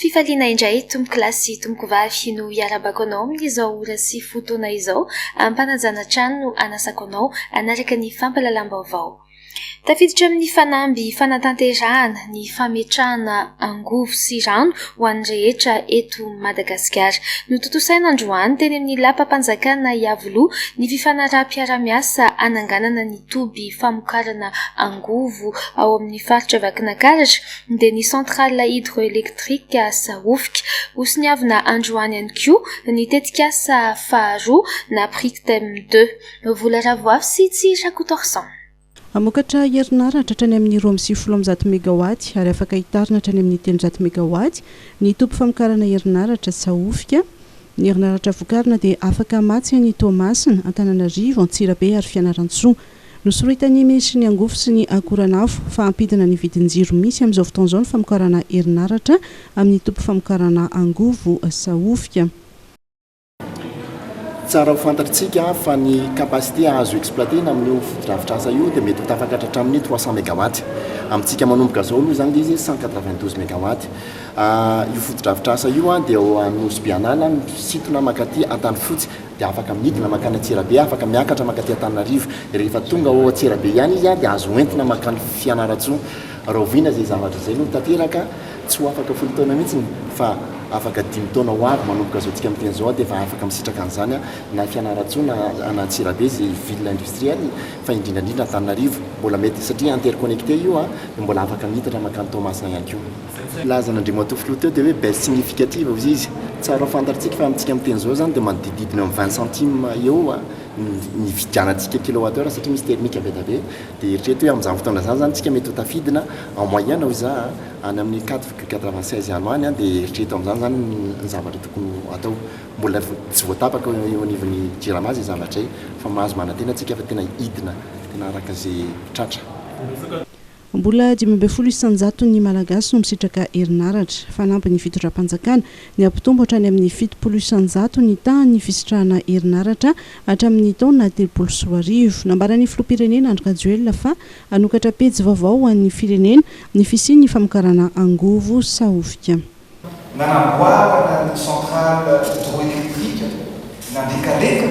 Fifaliana indray tompoko lahy sy tompoko vavy no hiarabako anao amin'izao ora sy fotoana izao ampanajana trano no anasako anao hanaraka ny fampalalam-baovao. Tafiditra amin'ny fanamby fanatanterahana ny fametrahana angovo sy rano ho an'ny rehetra eto Madagasikara. Notontosaina androany teny amin'ny lapam-panjakana Iavoloha ny fifanaraham-piarahamiasa hananganana ny toby famokarana angovo ao amin'ny faritra Vakinakaratra, dia ny centrale hydroélectrique Sahofika. Hosoniavina androany ihany koa ny tetikasa faharoa na Prictem deux. Vola Ravoafy sy tsy Rakotoarison. Hamokatra herinaratra hatrany amin'ny roa amby sivifolo amby zato megawaty ary afaka hitarina hatrany amin'ny telonjato megawaty ny toby famokarana herinaratra Sahofika. Ny herinaratra vokarina dia afaka hamatsy any Toamasina, Antananarivo, Antsirabe ary Fianarantsoa. Nosorohitan'ny minisitry ny Angofo sy ny Akoranafo fa hampidina ny vidin-jiro misy amin'izao fotoana izao ny famokarana herinaratra amin'ny toby famokarana angovo sahofika. Tsara ho fantatr'tsika fa ny capacité azo exploiter-na amin'io fotodrafitrasa io dia mety ho tafakatra hatramin'ny trois cents mégawatts. Amintsika manomboka izao aloha izany dia izy cent quatre-vingt-douze mégawatts. Io fotodrafitrasa io dia ao Anosibe An'ala, misintona mankaty Antanifotsy. dia afaka midina mankany Antsirabe, afaka miakatra mankaty Antananarivo, rehefa tonga ao Antsirabe ihany izy dia azo hoentina mankany Fianarantsoa, rahoviana izay zavatra izay no tanteraka, tsy ho afaka folo taona mihitsy fa afaka dimy taona ho avy manomboka izao tsika miteny izao dia efa afaka misitraka an'izany na Fianarantsoa na na Antsirabe izay ville industrielle fa indrindra indrindra Antananarivo mbola mety satria interconnecté io dia mbola afaka miitatra mankany Toamasina ihany koa. filaza an'Andriamatoa Filoha teo dia hoe baisse significative hozy izy. Tsara ho fantarintsika fa amintsika miteny izao izany dia manodidididina ny vingt centimes eo ny nividianantsika kilowattheure satria misy thermique be dia be. Dia eritrereto hoe amin'izany fotoana izany izany isika mety ho tafidina en moyenne hoy za a, any amin'ny quatre virgule quatre vingt seize any ho any dia eritrereto amin'izany izany ny zavatra tokony ho atao. Mbola tsy voatapaka eo anivon'ny Jirama izay zavatra izay fa mahazo manantena isika fa tena hidina tena araka izay tratra. Mbola dimy ambin'ny folo isan-jaton'ny Malagasy no misitraka herinaratra. Fanampin'ny fitondram-panjakana, ny hampitombo hatrany amin'ny fitopolo isan-jato ny tahan'ny fisitrahana herinaratra hatramin'ny taona telopolo sy roa arivo. Nambaran'ny filoham-pirenena Andry Rajoelina fa hanokatra pejy vaovao ho an'ny firenena ny fisian'ny famokarana angovo sahofika. Nanamboarana ny centrale hydroélectrique nandrikareka.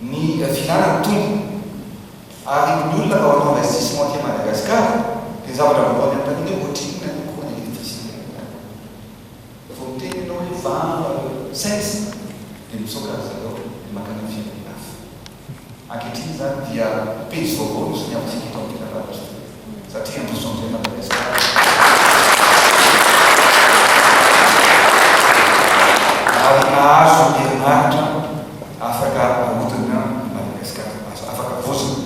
ny filàna ny tombony ary ny olona vao atao investissement aty Madagascar dia ny zavatra vao ataony amin'ny tany hoe ohatrinona no coût ny électricité any Madagascar vao miteny ianao hoe valo cents dia mitsoaka ry zareo dia mankany amin'ny firenena hafa ankehitriny izany dia pejy vaovao no soniavintsika eto amin'ny tena lalana. satria en changer Madagascar ary nahazo herinaratra afaka ahodina i Madagascar azo afaka vozona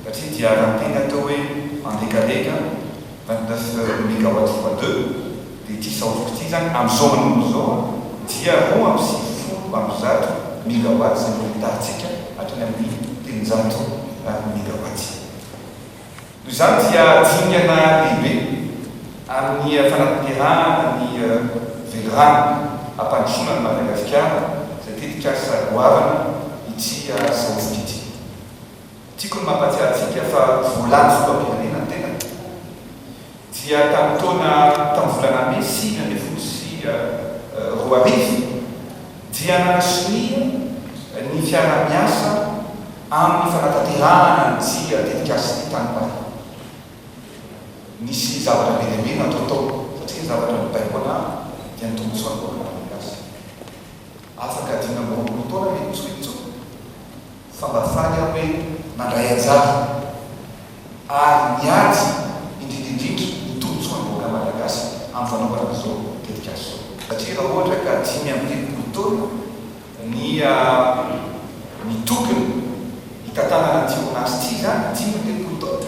satria dia raha teny atao hoe en dekaleka vingt neuf megawatt fois deux dia ity saofiko ity zany amzao manomboka zao dia roa amby sivifolo amby zato megawatt zay mbola hitarintsika hatrany amin'ny telonjato megawatt. Noho izany dia dingana lehibe amin'ny fanatanterahana ny Velirano hampandrosoana an'i Madagasikara izay tetikasa goavana ity saonjotra ity. Tiako ny mampahatsiahy antsika fa voalan'ny filoham-pirenena ny tenako. dia tamin'ny taona tamin'ny volana mey sivy ambin'ny folo sy roa arivo dia nanasonia ny fiaraha-miasa amin'ny fanatanterahana ny dia tetikasin'ny tany Paris. Nisy zavatra be dia be natao tao satria ny zavatra nibaiko ana dia ny tombontsoan'ny vahoaka malagasy. Afaka dimy amby roapolo taona ve ny Tsoritso? fa mba faly aho hoe mandray anjara ary miady indrindra indrindra ny tombontsoan'ny vahoaka Malagasy amin'ny fanaovana izao tetikasa izao. Satria raha ohatra ka dimy amby telopolo taona ny ny tokony hitantanana ity orinasa ity izany, dimy amby telopolo taona,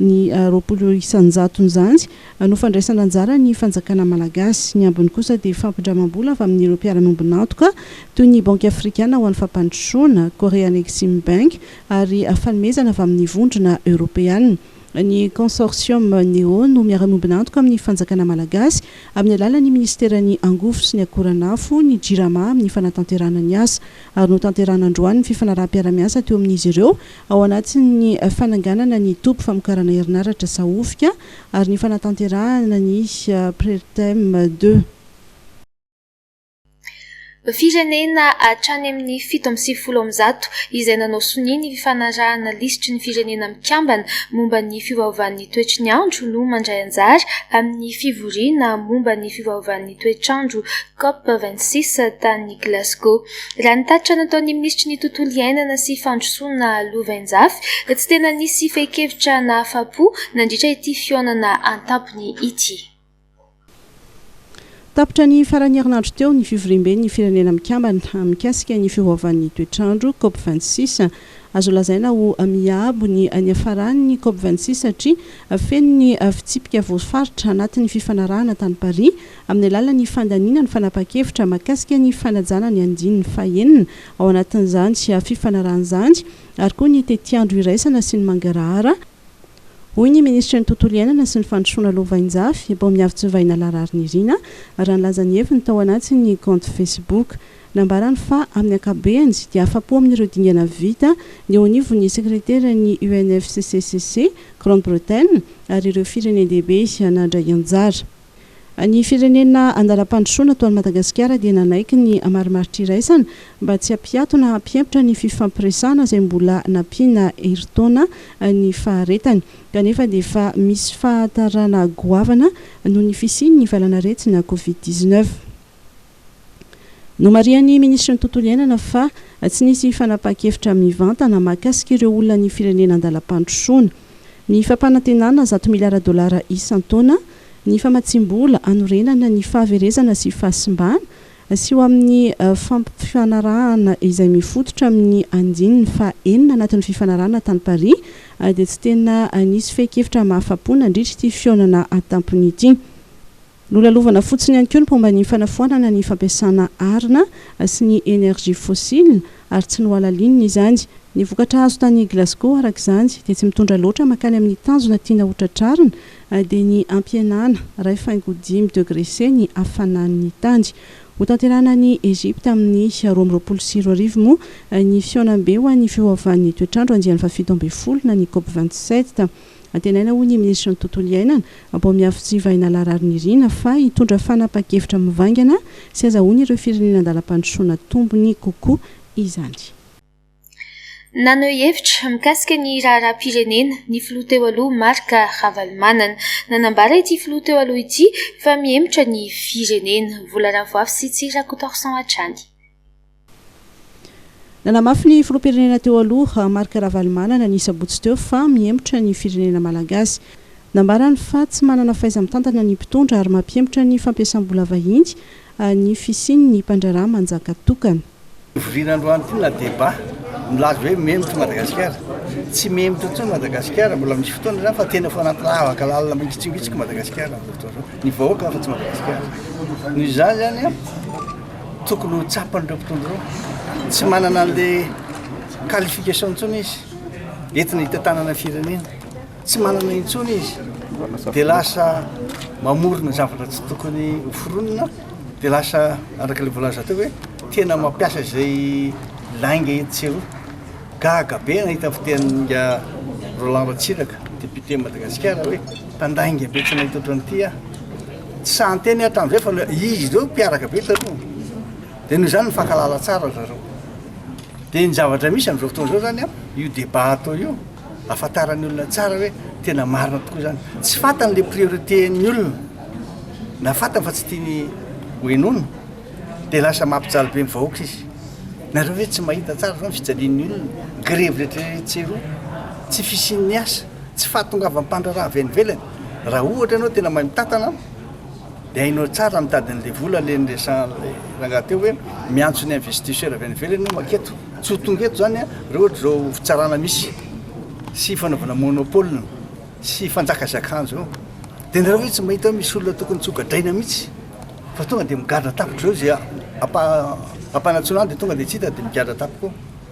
ny roapolo isan-jaton'izany no fandraisana anjara ny fanjakana malagasy, ny ambiny kosa dia fampindramam-bola avy amin'ireo mpiara-miombon'antoka toy ny Banky afrikana ho an'ny fampandrosoana, Korean Exim Bank ary fanomezana avy amin'ny vondrona eoropeana. Ny Consortium Neo no miara-miombon'antoka amin'ny fanjakana malagasy amin'ny alalan'ny minisiteran'ny Angovo sy ny Akoranafo, ny Jirama amin'ny fanatanterahana ny asa, ary notanterahana androany ny fifanaraham-piara-miasa teo amin'izy ireo ao anatin'ny fananganana ny toby famokarana herinaratra Sahofika ary ny fanatanterahana ny Prertem deux. Firenena hatrany amin'ny fito amby sivifolo amin'ny zato izay nanao sonia ny fifanarahana lisitry ny Firenena Mikambana momba ny fiovaovan'ny toetry ny andro no mandray anjara amin'ny fivoriana momba ny fiovaovan'ny toetr'andro Cop vingt six tany Glasgow. Raha ny tatitra nataon'ny minisitry ny Tontolo iainana sy fandrosoana lovainjafy dia tsy tena nisy fehin-kevitra nahafa-po nandritra ity fihaonana an-tampony ity. Tapitra ny faran'ny herinandro teo ny fivoriamben'ny Firenena Mikambana mikasika ny fihoavan'ny toetr'andro, Cop vingt six. Azo lazaina ho miabo ny niafaran'ny Cop vingt six satria feno ny fitsipika voafaritra anatin'ny fifanarahana tany Paris amin'ny alalan'ny fandaniana ny fanapahan-kevitra mahakasika ny fanajana ny andininy fahenina, ao anatin'izany sy fifanarahana izany, ary koa ny tetiandro iraisana sy ny mangarahara, hoy ny minisitry ny Tontolo iainana sy ny fandrosoana lovainjafy, Bomiavitsivahy Nala Rarinirina, raha nilaza ny heviny tao anatin'ny kaonty Facebook. Nambarany fa amin'ny ankapobeny dia afa-po amin'ireo dingana vita ny eo anivon'ny sekreteran'ny UNFCCC, Grande-Bretagne, ary ireo firenen-dehibe nandray anjara. Ny firenena andalam-pandrosoana toa an'i Madagasikara dia nanaiky ny hamaromaro-triraisana mba tsy hampiato na hampihemotra ny fifampiresahana izay mbola nampiana herintaona ny faharetany kanefa dia efa misy fahatarana goavana noho ny fisian'ny valan'aretina Covid dix-neuf. Nomarihan'ny Minisitry ny Tontolo Iainana fa tsy nisy fanapahan-kevitra mivantana mahakasika ireo olonan'ny firenena an-dalam-pandrosoana. Ny fampanantenana zato miliara dolara isan-taona, ny famatsiam-bola hanorenana ny fahaverezana sy fahasimbana sy ho amin'ny fampifanarahana izay mifototra amin'ny andininy faha enina anatin'ny fifanarahana tany Paris dia tsy tena nisy fehin-kevitra mahafa-po nandritra ity fihaonana an-tampony ity. Nolalovana fotsiny ihany koa ny mpomba ny fanafoanana ny fampiasana arina sy ny énergie fossile ary tsy nohalalinina izany. Ny vokatra azo tany Glasgow araka izany dia tsy mitondra loatra mankany amin'ny tanjona tiana ho tratrarina dia ny hampihenana iray faingo dimy degre C ny hafanan'ny tany. Hotanterahina any Egypte amin'ny roa amby roapolo sy roa arivo moa ny fihaonambe ho an'ny fiovaovan'ny toetrandro andiany fahafito ambin'ny folo na ny Cop vingt-sept. Antenaina hoy ny minisitry ny Tontolo iainana, Ambohimiafotsy Vahinala Rarinirina, fa hitondra fanapahan-kevitra mivaingana sy hazahoan'ireo firenena an-dalam-pandrosoana tombony kokoa izany. Naneho hevitra mikasika ny raharaham-pirenena ny filoha teo aloha Marc Ravalomanana. Nanambara ity filoha teo aloha ity fa mihemotra ny firenena. Vola Ravoafy sy Tsy Rakotaorson hatrany. Nanamafy ny filoham-pirenena teo aloha, Marc Ravalomanana, ny sabotsy teo fa mihemotra ny firenena malagasy. Nambarany fa tsy manana fahaiza-mitantana ny mpitondra ary mampihemotra ny fampiasam-bola vahiny ny fisian'ny mpandraharaha manjaka tokana. Hovoriana androany ity na deba milaza hoe mihemotra i Madagasikara. Tsy mihemotra intsony Madagasikara, mbola misy fotoana izany fa tena efa anaty lavaka lalina mangitsingitsika i Madagasikara amin'izao fotoana izao. Ny vahoaka afa-tsy Madagasikara. Noho izany izany an! Tokony ho tsapan'ireo mpitondra ireo. Tsy manana an'ilay qualification intsony izy entina hitantanana firenena. Tsy manana intsony izy dia lasa mamorona zavatra tsy tokony ho foronina dia lasa araka ilay voalaza teo hoe tena mampiasa izay lainga etsy sy eroa. Gaga be nahita ny fitenin'inga Roland Ratsiraka, député Madagasikara hoe mpandainga be tsy nahita ohatran'ity aho. Tsy sahy niteny aho hatramin'izay fa izy ireo mpiaraka be taloha dia noho izany nifankahalala tsara ry zareo. Dia ny zavatra misy amin'izao fotoana izao izany an, io débat atao io, ahafantaran'ny olona tsara hoe tena marina tokoa izany. Tsy fantany ilay priorité-n'ny olona, na fantany fa tsy tiany hohenoina, dia lasa mampijaly be ny vahoaka izy. Nareo ve tsy mahita tsara izao ny fijalian'ny olona, grevy rehetra rehetra tsy eroa, tsy fisian'ny asa? Tsy fahatongavan'ny mpandraharaha avy any ivelany. Raha ohatra ianao tena mahay mitantana dia hainao tsara ny mitady an'ilay vola, ilay niresahan'ilay rangahy teo hoe miantso ny investisseurs avy any ivelany hoe maketo. Tsy ho tonga eto izany raha ohatra izao fitsarana misy sy fanaovana monopole sy fanjakazakan'izao eo. Dia nareo ve tsy mahita hoe misy olona tokony tsy ho gadraina mihitsy fa tonga dia migadra tampoka izao izay ampanatsoina any dia tonga dia tsy hita dia migadra tampoka eo.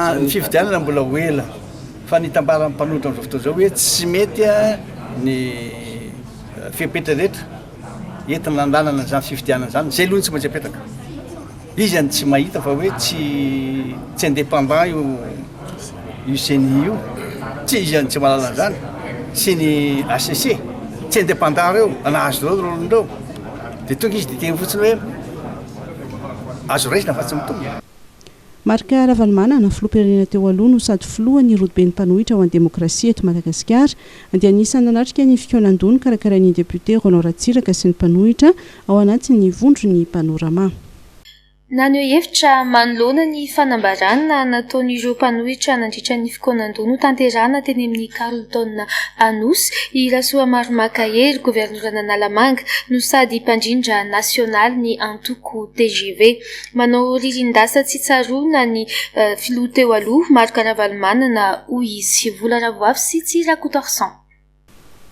Ny fifidianana mbola ho ela, fa ny itambaran'ny mpanohitra amin'izao fotoana izao hoe tsy mety ny fepetra rehetra entina hanalana izany fifidianana izany, izay aloha no tsy maintsy apetraka. Izy any tsy mahita fa hoe tsy tsy indépendant io io ceni io, tsy izy any tsy mahalala an'izany sy ny HCC, tsy indépendant ireo nahazo ireo rôle-ndreo, dia tonga izy dia hiteny fotsiny hoe azo raisina fa tsy mitombo. Marc Ravalomanana, filoham-pirenena teo aloha no sady filohan' ny rodoben'ny mpanohitra ho an'ny demokrasia eto Madagasikara, dia anisan'ny nanatrika ny fikaonan-doha nokarakarain'ny depiote Roland Ratsiraka sy ny mpanohitra ao anatin'ny vondron'ny Panorama. Naneho hevitra manoloana ny fanambarana nataon'ireo mpanohitra nandritra ny fikaonan-doha notanterahana teny amin'ny Carlton Anosy i Rasoamaromà Makahery, governoran'Analamanga no sady mpandrindra nasionalin'ny antoko tgv. Manao ririndasa tsy tsaroana ny filoha teo aloha Marc Ravalomanana hoy izy. Vola Ravoafy sy tsy Rakotoarison.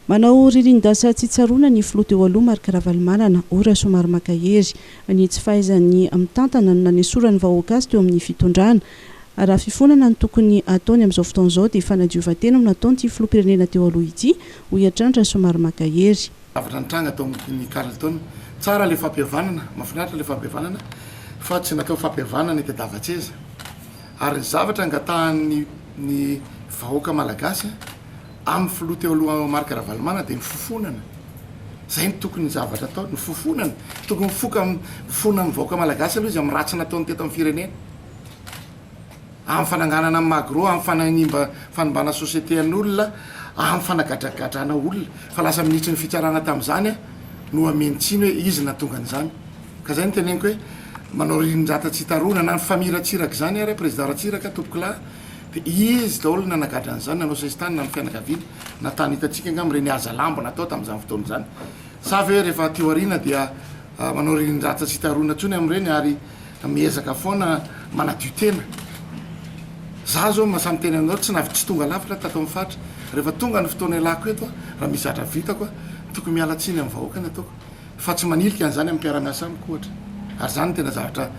Manao ririndasa tsy tsaroana ny filoha teo aloha Marc Ravalomanana hoy Rasoamary Makahery. Ny tsy fahaizany mitantana no nanesorany vahoaka azy teo amin'ny fitondrana. Raha fifonana no tokony hataony amin'izao fotoana izao dia fanadiovan-tena no nataon'ity filoham-pirenena teo aloha ity hoy hatrany Rasoamary Makahery. Zavatra nitranga tao amin'ny Carlton. Tsara ilay fampihavanana, mahafinaritra ilay fampihavanana fa tsy natao fampihavanana hitadiavan-tseza. Ary ny zavatra angatahan'ny ny vahoaka malagasy amin'ny filoha teo aloha Marc Ravalomanana dia ny fofonana. Izay no tokony zavatra ataony, ny fofonana. Tokony mifoka, mifona amin'ny vahoaka malagasy aloha izy amin'ny ratsy nataony teto amin'ny firenena. amin'ny fananganana ny magro, amin'ny fananimba fanimbana société an'olona, amin'ny fanagadragadrana olona, fa lasa minisitry ny fitsarana tamin'izany aho no hameno tsiny hoe izy no nahatonga an'izany. Ka izay no teneniko hoe manao ririndrata tsy hita rona, na ny famille Ratsiraka izany ary, président Ratsiraka, tompokolahy, dia izy daholo no nanagadra an'izany, nanao sesitany na ny fianakaviany, na tany hitantsika angamba ireny haza lamba natao tamin'izany fotoana izany. Sa ve rehefa aty aoriana dia manao ririndrata tsy hita rona intsony amin'ireny ary, Miezaka foana manadio tena. Za zao mahasahy miteny anao tsy navy tsy tonga lafatra tato amin'ny faritra. Rehefa tonga ny fotoana ialako eto aho raha misy zatra vitako aho tokony miala tsiny amin'ny vahoaka ny ataoko fa tsy manilika an'izany amin'ny mpiara-miasa amiko ohatra. Ary izany no tena zavatra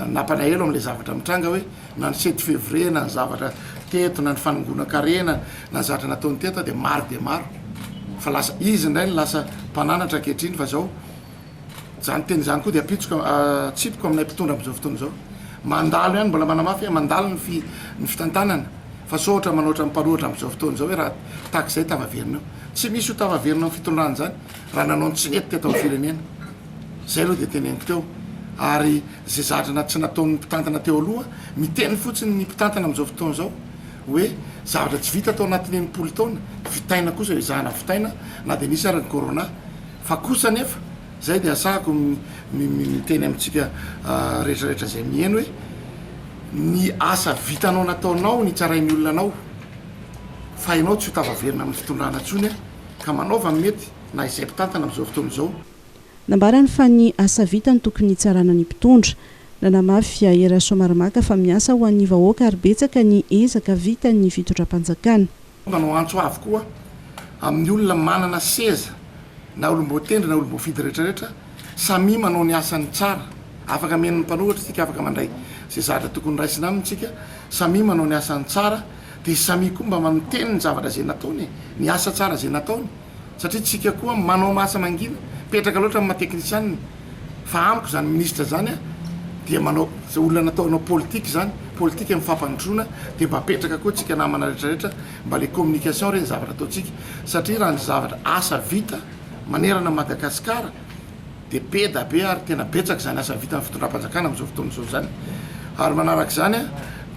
nampanahelo amin'ilay zavatra mitranga hoe na ny sept février na ny zavatra teto na ny fanongonan-karena na ny zavatra nataony teto aho dia maro dia maro fa lasa izy indray no lasa mpananatra ankehitriny fa izao Izany teny izany koa dia apitsoka atsipiko aminay mpitondra amin'izao fotoana izao. Mandalo ihany, mbola manamafy hoe mandalo ny fitantanana fa sao ohatra manoatra mipanohatra amin'izao fotoana izao hoe raha tahaka izay tavaverina eo. Tsy misy ho tavaverina amin'ny fitondrana izany raha nanao ny tsy nety teto amin'ny firenena. Izay aloha dia teneniko teo ary izay zavatra tsy nataon'ny mpitantana teo aloha, miteny fotsiny ny mpitantana amin'izao fotoana izao hoe zavatra tsy vita tao anatin'ny enimpolo taona, vitaina kosa izahana vitaina na dia nisy ary ny corona. Fa kosa anefa, izay dia asako miteny amintsika rehetrarehetra izay miheno hoe, ny asa vitanao nataonao nitsarain'ny olona anao fa ianao tsy ho tafaverina amin'ny fitondrana intsony ka manaova ny mety na izay mpitantana amin'izao fotoana izao. Nambarany fa ny asa vita no tokony hitsarana ny mpitondra. Nanamafy Ahy Rasoamaromaka fa miasa ho an'ny vahoaka ary betsaka ny ezaka vitan'ny fitondram-panjakana. Manao antso avo koa amin'ny olona manana seza na olom-boatendry na olom-boafidy rehetrarehetra samia manao ny asany tsara. Afaka mihaino ny mpanoratra isika, afaka mandray izay zavatra tokony raisina aminy isika, samia manao ny asany tsara dia samia koa mba manoteny ny zavatra izay nataony e, ny asa tsara izay nataony. satria tsika koa manao asa mangina petraka loatra amin'ny maha teknisianina fa amiko zany ministra zany a dia manao zay olona nataonao politika zany politika amin'ny fampandrosoana dia mba apetraka koa tsika namana rehetra rehetra mba le communication re ny zavatra ataontsika satria raha ny zavatra asa vita manerana Madagasikara dia be da be ary tena betsaka izany asa vitan'ny fitondram-panjakana amin'izao fotoana izao izany ary manaraka izany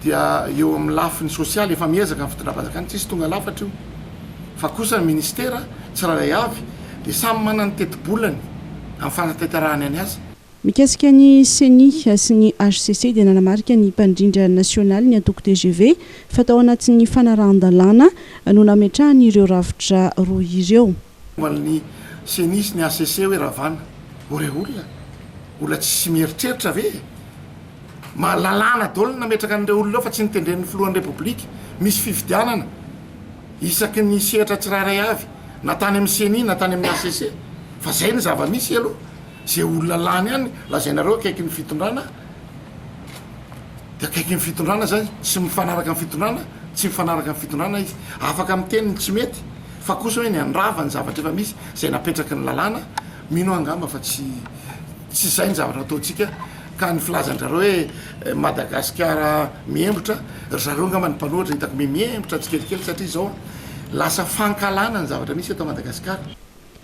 dia eo amin'ny lafiny sosialy efa miezaka ny fitondram-panjakana tsisy tonga lafatra io fa kosa ny ministera tsirairay avy dia samy manana ny tetibolany amin'ny fanatanterahany ny asa Mikasika ny Ceni sy ny hcc dia nanamarika ny mpandrindra nasionaly ny antoko tgv fa tao anatin'ny fanarahan-dalàna no nametrahany ireo rafitra roa ireo. Momban'ny Ceni sy ny hcc hoe Ravana, o rey olona, olona tsy mieritreritra ve e? Mba lalàna daholo ny nametraka an'ireo olona eo fa tsy notendren'ny filohan'ny Repoblika, misy fifidianana isaky ny sehatra tsirairay avy na tany amin'ny Ceni na tany amin'ny hcc fa zay ny zava-misy aloha, ze olona lany any lazainareo akaikin'ny fitondrana. Dia akaiky ny fitondrana izay sy mifanaraka amin'ny fitondrana, tsy mifanaraka amin'ny fitondrana izy. Afaka miteny ny tsy mety fa kosa hoe ny handrava ny zavatra efa misy izay napetraky ny lalàna, mino aho angamba fa tsy tsy izay ny zavatra ataontsika ka ny filazan-dry zareo hoe Madagasikara mihembotra, ry zareo angamba ny mpanohitra hitako mihembotra tsikelikely satria izao lasa fankahalana ny zavatra misy eto Madagasikara.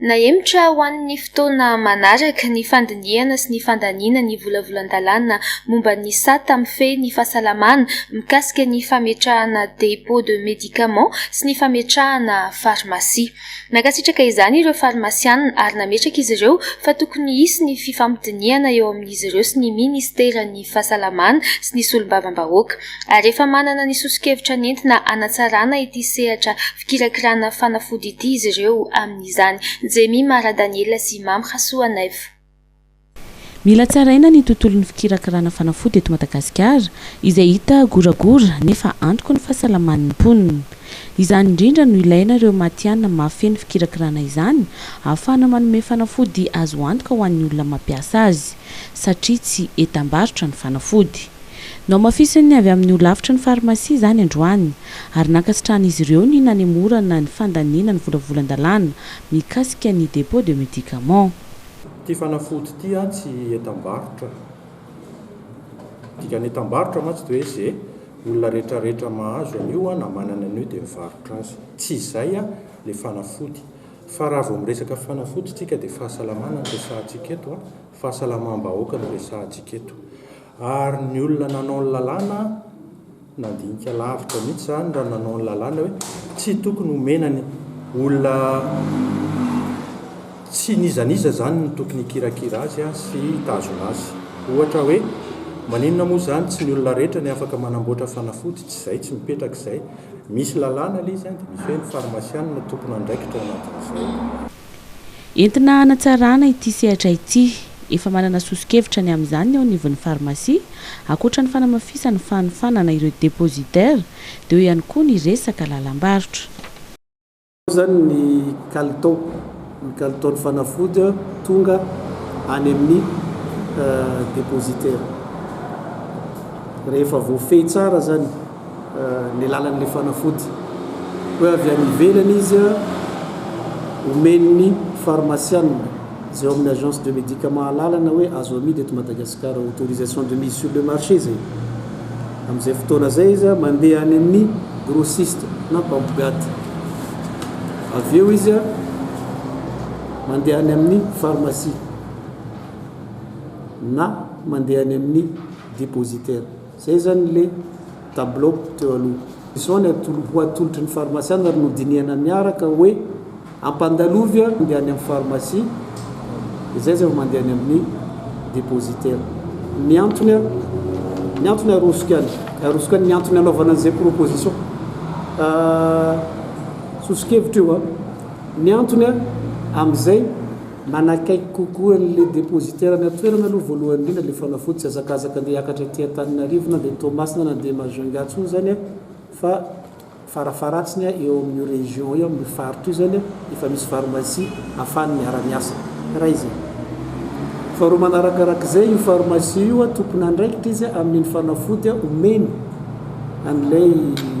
Nahemotra ho an'ny fotoana manaraka ny fandinihana sy ny fandaniana ny volavolan-dalàna momba ny sata mifehy ny fahasalamana mikasika ny fametrahana dépôt de médicaments sy ny fametrahana farmasia. Nankasitraka izany ireo farmasianina ary nametraka izy ireo fa tokony hisy ny fifampidinihana eo amin'izy ireo sy ny minisiteran'ny Fahasalamana sy ny solombavambahoaka. ary efa manana ny soso-kevitra nentina hanatsarana ity sehatra fikirakirana fanafody ity izy ireo amin'izany. Jemima Radaniela sy Mamy Rasoanaivo. Mila tsaraina ny tontolon'ny fikirakirana fanafody eto Madagasikara izay hita goragora nefa antoky ny fahasalaman'ny mponina. Izany indrindra no ilaina ireo matihanina mahafehy ny fikirakirana izany ahafahana manome fanafody azo antoka ho an'ny olona mampiasa azy satria tsy entam-barotra ny fanafody. Nohamafisin'ny avy amin'ny holafitry ny farmasia izany androany, ary nankasitrahan'izy ireo ny nanemorana ny fandaniana ny volavolan-dalàna mikasika ny dépôt de médicaments. Ity fanafody ity an tsy entam-barotra. Ny dikan'ny entam-barotra mantsy dia hoe ze olona rehetra rehetra mahazo an'io an na manana an'io dia mivarotra azy. Tsy izay an le fanafody. Fa raha vao miresaka fanafody tsika dia fahasalamana no resahantsika eto an, fahasalamam-bahoaka no resahantsika eto. Ary ny olona nanao ny lalàna nandinika lavitra mihitsy izany raha nanao ny lalàna hoe tsy tokony homena ny olona tsy n'iza n'iza izany no tokony hikirakira azy sy hitazona azy. Ohatra hoe maninona moa izany tsy ny olona rehetra ny afaka manamboatra fanafody tsy izay tsy mipetraka izay. Misy lalàna ilay izy dia misy hoe ny farmasianina tompon'andraikitra ao anatin'izay. Entina hanatsarana ity sehatra ity. Efa manana soso-kevitra ny amin'izany ny eo anivon'ny farmasia, ankoatra ny fanamafisana ny fanofanana ireo depositaires, dia eo ihany koa ny resaka lalam-barotra. Ao izany ny kalitao, ny kalitaon'ny fanafody tonga any amin'ny depositaires. Rehefa voafehy tsara izany. ny alalan'ilay fanafody hoe avy any ivelany izy omen'ny farmasianina izay ao amin'ny agence de médicament alalana hoe azo amidy eto Madagasikara autorisation de mise sur le marché izay amin'izay fotoana izay izy mandeha any amin'ny grossiste na mpampigaty avy eo izy mandeha any amin'ny pharmacie na mandeha any amin'ny dépositaire Izay izany ilay tableau teo aloha. Izao ny ho atolotry ny farmasiana ary nodinihana niaraka hoe ampandalovy ary mandeha any amin'ny farmasia, izay izay vao mandeha any amin'ny depositaire. Ny antony, ny antony arosoko ihany, arosoko ihany ny antony anaovana an'izay proposition soso-kevitra io. Ny antony amin'izay. Manakaiky kokoa an'ilay depositaire any an-toerana aloha voalohany indrindra ilay fanafody, tsy hazakazaka andeha hiakatra aty Antananarivo na dia Toamasina na dia Majunga intsony izany an, fa farafaharatsiny an eo amin'io région io, amin'io faritra io izany an, efa misy pharmacie ahafahany miara-miasa. Iray izay. Faharoa manarakarak'izay, io pharmacie io an, tompon'andraikitra izy an, amin'iny fanafody an omeny an'ilay.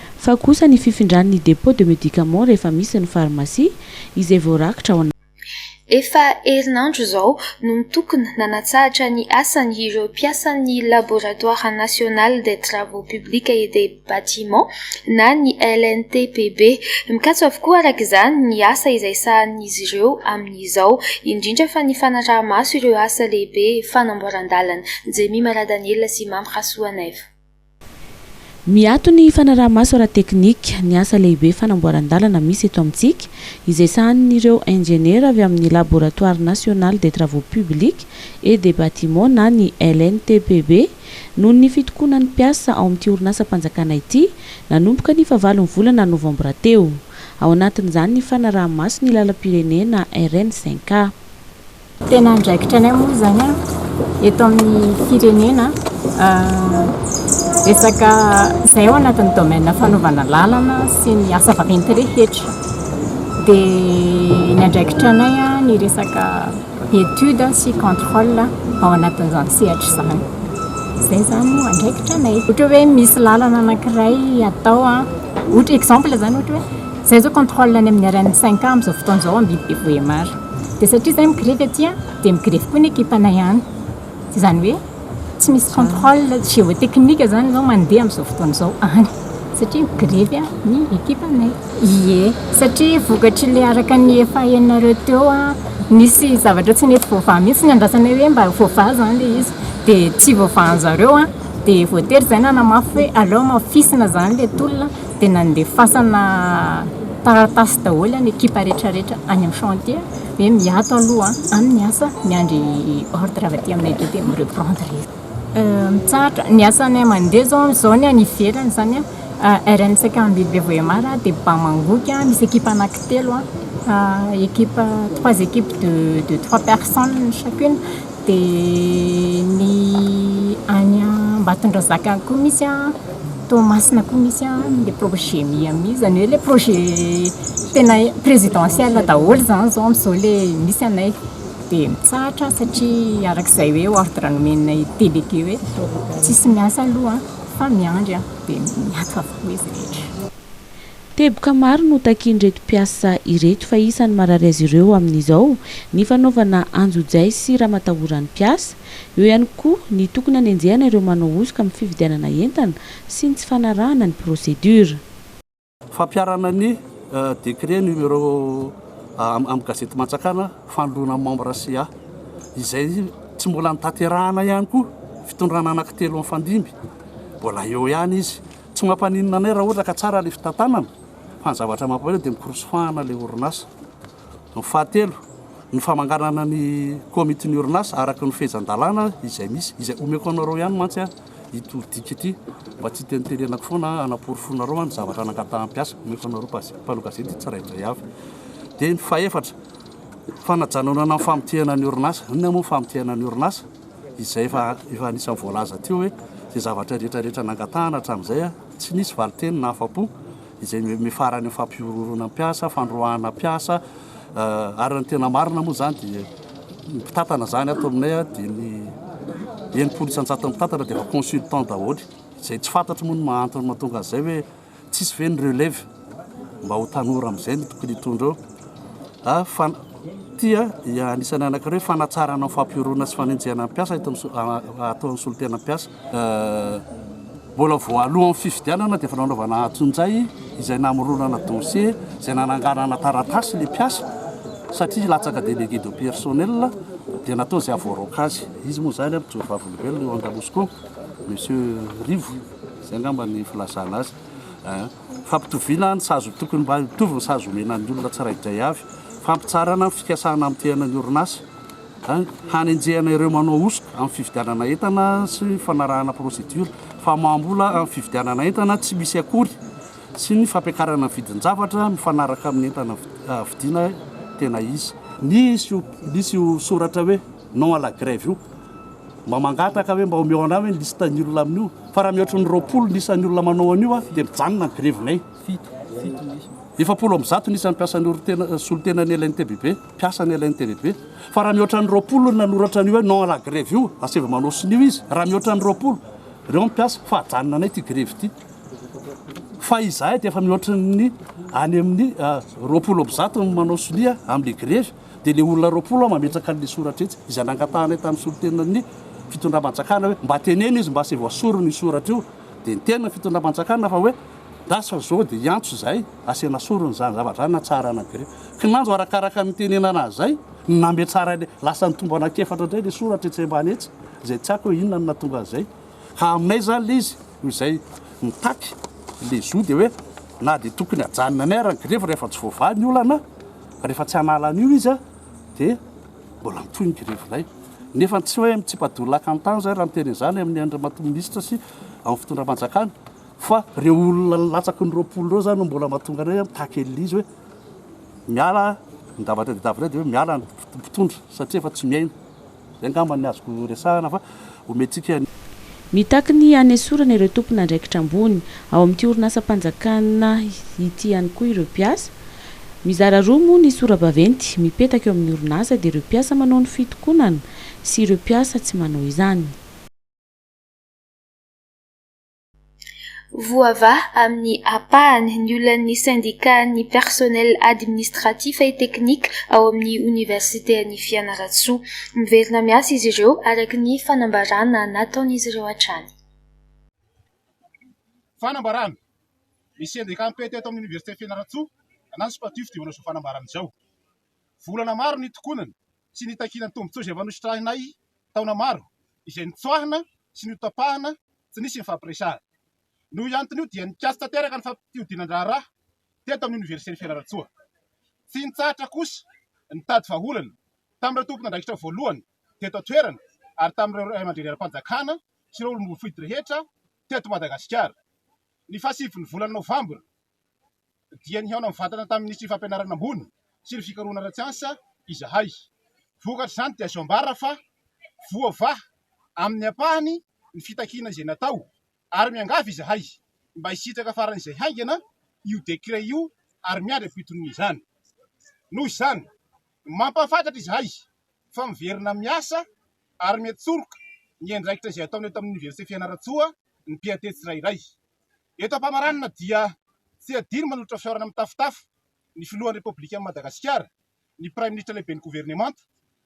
Fa kosa ny fifindran' ny dépôt de médicaments rehefa misy ny farmasia izay voarakitra ao Efa herinandro izao no nitokona nanatsahatra ny asany ireo mpiasan'ny Laboratoire National des Travaux Publics et des Bâtiments na ny LNTPB. Mikatso avokoa araka izany ny asa izay sahanin'izy ireo amin'izao, indrindra fa ny fanaraha-maso ireo asa lehibe fanamboaran-dalana. Jemima Radaniela sy Mamy Rasoanaivo. Miato ny fanaraha-maso ara-teknika ny asa lehibe fanamboaran-dalana misy eto amintsika, izay sahanin'ireo injeniera avy amin'ny Laboratoire National des Travaux Publics et des Bâtiments na ny LNTPB. Noho ny fitokonan'ny mpiasa ao amin'ity orinasam-panjakana ity, nanomboka ny fahavalon'ny volana novambra teo. Ao anatin'izany ny fanaraha-maso ny lalam-pirenena RN cinq A. Tena andraikitra anay moa izany eto amin'ny firenena resaka izay ao anatin'ny domaine fanaovana lalana sy ny asa vaventy rehetra. Dia ny andraikitra anay ny resaka étude sy contrôle ao anatin'izany sehatra izany. Izay izany no andraikitra anay. Ohatra hoe misy lalana anankiray atao, ohatra exemple izany ohatra hoe izay izao contrôle any amin'ny RN5 amin'izao fotoana izao Ambihibe Vohémar. Dia satria izay mi-grevy aty dia mi-grevy koa ny ekipanay any. Tsy izany hoe tsy misy contrôle géotechnique izany izao mandeha amin'izao fotoana izao any satria mi-grevy ny ekipanay. Ie, satria vokatry ilay araka ny efa henonareo teo, nisy zavatra tsy nety voavaha mihitsy, nandrasanay hoe mba voavaha izany ilay izy dia tsy voavahan-dry zareo dia voatery izay nanamafy hoe aleo hamafisina izany ilay tolona. dia nandefasana taratasy daholo an ny ekipa rehetra rehetra any amin'ny chantier hoe miato aloha amin'ny asa miandry ordre avy aty aminay dia mi-reprendre izy mitsahatra ny asanay mandeha zao zao ny any ivelany izany an RNSEC Ambily Bevoemar dia Bamangoky misy ekipa anankitelo an ekipa trois équipes de trois personnes chacune Dia ny any Ambatondrazaka any koa misy an, Toamasina koa misy an, le projet Miami izany hoe le projet tena présidentiel daholo izany izao amin'izao le misy anay. Dia mitsahatra satria araka izay hoe ordre nomen'ny délégué hoe tsisy miasa aloha fa miandry an, dia miato avokoa izy rehetra. Teboka maro no takian'ireto mpiasa ireto fa isan'ny marary azy ireo amin'izao ny fanaovana anjojay sy ramatahoran'ny mpiasa, eo ihany koa ny tokony hanenjehana ireo manao hosoka amin'ny fividianana entana sy ny tsy fanarahana ny procédure. Fampiharana ny décret numéro amin'ny gazety Mantsakana fanoloana membre ca izay tsy mbola notanterahana ihany koa, fitondrana anankitelo mifandimby mbola eo ihany izy. Tsy mampaninona anay raha ohatra ka tsara ilay fitantanana fa ny zavatra mampalahelo dia mikorosofahana ilay orinasa. Ny fahatelo, ny famanganana ny komitin'ny orinasa araka ny fehezan-dalàna izay misy, izay omeko anareo ihany mantsy aho ity dika ity mba tsy hitenitenenako foana hanaporofoanareo ny zavatra nangataham-piasa omeko anareo mpanao gazety tsirairay avy. Dia ny fahefatra, fanajanonana ny famontehana ny orinasa. Inona moa ny famontehana ny orinasa? izay efa efa anisan'ny voalaza teo hoe izay zavatra rehetra rehetra nangatahana hatramin'izay tsy nisy valinteny nahafa-po izay miafarany amin'ny fampihorohoroana ny mpiasa, fandroahana mpiasa ary ny tena marina moa izany dia ny mpitantana izany ato aminay dia ny enimpolo isan-jaton'ny mpitantana dia efa consultant daholo izay tsy fantatro moa ny mahantony mahatonga an'izay hoe Tsisy ve ny relève mba ho tanora amizay no tokony hitondra eo a? Fa ty a anisany anakireo hoe fanatsarana ny fampihoroana sy fanenjehana ny mpiasa eto atao amin'ny solontena mpiasa. Mbola voalohan'ny fifidianana dia efa nanaovana antso injay izay namoronana dossier izay nananganana taratasy ilay mpiasa satria latsaka délégué de personnel dia natao izay havoaraoka azy. Izy moa izany a, mijoro vavolombelona eo Andamosiko ao, Monsieur Rivo. Izay angamba ny filazana azy eh. Fampitoviana ny sazy, tokony mba hitovy ny sazy omena ny olona tsiraidray avy. Fampitsarana ny fikasana hamotehana ny orinasa eh. Hanenjehana ireo manao hosoka amin'ny fividianana entana sy ny fanarahana procédure famaham-bola amin'ny fividianana entana tsy misy akory sy ny fampiakarana ny vidin-javatra mifanaraka amin'ny entana vidiana tena izy. Nisy io soratra hoe. Non à la grève io. Mba mangataka hoe mba omeo anay hoe ny liste ny olona amin'io fa raha mihoatry ny roapolo ny isan'ny olona manao an'io a dia mijanona ny grevinay. Efapolo amby zato ny isan'ny mpiasan'ny orin-tena solontenan'ny LNTBB, mpiasan'ny LNTBB. Fa raha mihoatra ny roapolo ny nanoratra an'io hoe non à la grève io, asaivo manao sonia izy, raha mihoatra ny roapolo, ireo ny mpiasa fa ajanona anay ity grevy ity. Fa izahay dia efa mihoatry ny any amin'ny roapolo amby zato ny manao sonia amin'ny grevy. dia le olona roapolo mametraka an'le soratra etsy izay nangatahanay tamin'ny solontenan'ny fitondram-panjakana hoe mba teneno izy mba sy voasoriny io soratra io dia niteny ny fitondram-panjakana fa hoe lasa zao dia hiantso zay asiana sorony zany zavatra zany na tsara na gré kinanjo arakaraka ny tenenana azy zay ny nametrara le lasa ny tombo anakefatra indray le soratra etsy ambany etsy izay tsy ako hoe inona ny natonga an'izay ka aminay zany le izy ho izay mitaky le zo dia hoe na dia tokony hajanona anay ary ny grevy rehefa tsy voavaha ny olana Rehefa tsy hanala an'io izy dia mbola mitohy ny grevy indray. Nefa tsy hoe mitsipa-doha lakan-tany izay raha ny teny izany amin'ny andriamatoa minisitra sy amin'ny fitondram-panjakana fa ireo olona latsaky ny roapolo ireo izany no mbola mahatonga anay mitaky elizy hoe miala ny davatra dia davitra dia hoe miala ny mpitondra satria efa tsy miaina. Izay angamba ny azoko resahana fa omentsika ny. Mitaky ny hanesorana ireo tompon'andraikitra ambony ao amin'ity orinasam-panjakana ity ihany koa ireo mpiasa. Mizara roa moa ny sora-baventy mipetaka eo amin'ny orinasa dia ireo mpiasa manao ny fitokonana sy ireo mpiasa tsy manao izany. Voavaha amin'ny ampahany ny olan'ny sendikàn'ny Personnel Administratif et Technique ao amin'ny Oniversiten'i Fianarantsoa. Miverina miasa izy ireo araka ny fanambaràna nataon'izy ireo hatrany. Fanambaràna, Ny sendikà mpety eto amin'ny Oniversiten'i Fianarantsoa, Anaspa Tufti manao izao fanambaràna izao. Volana maro nitokonany sy nitakiana ny tombontsoa izay efa nositrahinay taona maro, izay notsoahina sy notapahana tsy nisy nifampiresahana. Noho io antony io dia nikatso tanteraka ny fampihodinan-draharaha teto amin'ny Oniversiten'i Fianarantsoa. Tsy nitsahatra kosa nitady vahaolana tamin'ireo tompon'andraikitra voalohany teto an-toerana ary tamin'ireo Raiamandreny ara-panjakana sy ireo olom-boafidy rehetra teto Madagasikara. Ny fahasivy ny volana Novambra dia nihaona mivantana tamin'ny Minisitry ny Fampianarana ambony sy ny fikarohana ara-tsiansa izahay. Vokatr'izany dia azo ambara fa voavaha amin'ny ampahany ny fitakiana izay natao ary miangavy izahay mba hisitraka faran'izay haingana io décret io ary miandry ampitony izany. Noho izany, mampahafantatra izahay fa miverina miasa ary miantsoroka ny andraikitra izay ataony eto amin'ny Oniversite Fianarantsoa ny mpiantehy tsirairay. Eto am-pamaranana dia tsy adino manolotra fihaonana mitafotafo ny Filohan'ny Repoblikan'i Madagasikara, ny Praiminisitra Lehiben'ny Governemanta,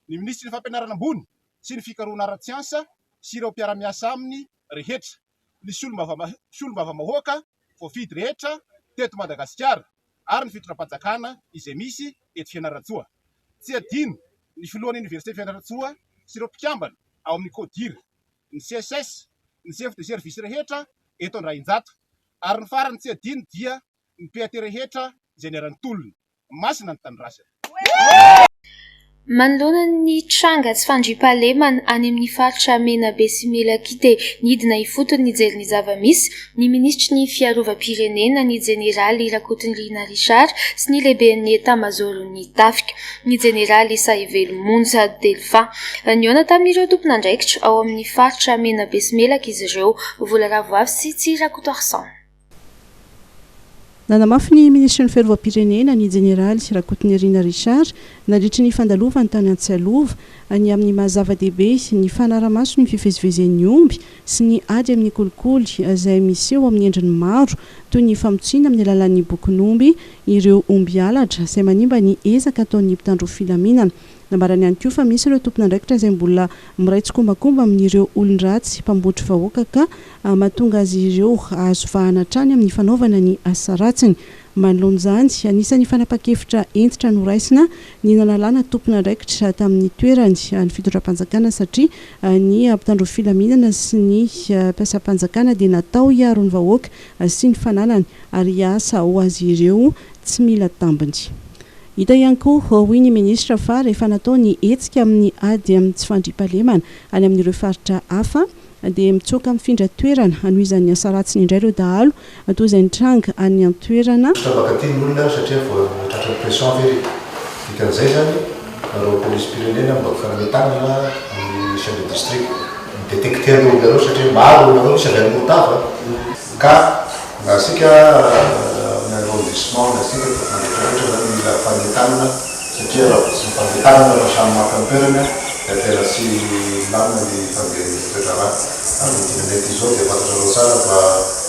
ny Minisitry ny Fampianarana Ambony sy ny Fikarohana Ara-tsiansa sy ireo mpiara-miasa aminy rehetra, ny Solombavamahoaka voafidy rehetra teto Madagasikara ary ny Fitondram-panjakana izay misy eto Fianarantsoa. Tsy adino ny Filohan'ny Oniversite Fianarantsoa sy ireo mpikambana ao amin'ny Codir. ny CSS, ny chef de service rehetra eto Andrainjato, ary ny farany tsy adino dia ny PAT rehetra izay niara-nitolona. Masina ny Tanindrazana. Manoloana ny tranga tsy fandriampahalemana any amin'ny faritra Menabe sy Melaky dia nidina ifotony nijery ny zava-misy ny minisitry ny Fiarovam-pirenena, ny jeneraly Rakotonirina Richard sy ny lehiben'ny etamazaoron'ny tafika, ny jeneraly Sahivelo Monja Delphin. Nihaona tamin'ireo tompon'andraikitra ao amin'ny faritra Menabe sy Melaka izy ireo, Volaravo avy sy Tsirakotoarison. Nanamafy ny minisitry ny Fiarovam-pirenena, ny jeneraly Rakotonirina Richard, nandritry ny fandalovany tany Antsialova, ny amin'ny maha zava-dehibe ny fanara-maso ny fivezivezen'ny omby sy ny ady amin'ny kolikoly izay miseho amin'ny endriny maro, toy ny famotsiana amin'ny alalan'ny bokon'omby ireo omby halatra izay manimba ny ezaka ataon'ny mpitandro filaminana. Nambarany ihany koa fa misy ireo tompon'andraikitra izay mbola miray tsikombakomba amin'ireo olon-dratsy mpambotry vahoaka ka mahatonga azy ireo hahazo vahana hatrany amin'ny fanaovana ny asa ratsiny. Manoloana izany, anisan'ny fanapan-kevitra hentitra noraisina ny nanalana tompon'andraikitra tamin'ny toerany ny fitondram-panjakana satria ny mpitandro filaminana sy ny mpiasam-panjakana dia natao hiaro ny vahoaka sy ny fananany ary hiasa ho azy ireo tsy mila tambiny Hita ihany koa, hoy ny minisitra, fa rehefa natao ny hetsika amin'ny ady amin'ny tsy fandriampahalemana any amin'ireo faritra hafa, dia mitsoaka mifindra toerana hanohizan'ny asa ratsiny indray ireo dahalo, toa izay nitranga any an-toerana. Tsy mba tia ny olona satria voatratra ny pression ve ry dikan'izay izany nareo polisim-pirenena mba mifanome tanana amin'ny chef de district mi-detecter ny olonareo satria maro ny olonareo misy avy any Morotava. Ka na isika any arrondissement na isika eto Antananarivo rehetra izany mila fanentanana satria raha vao tsy mifandeha tanana fa samy maka ny toerany dia tena tsy milamina ny fandehan'ny toedraharaha. Ary ny dimy mety izao dia fantatrareo tsara fa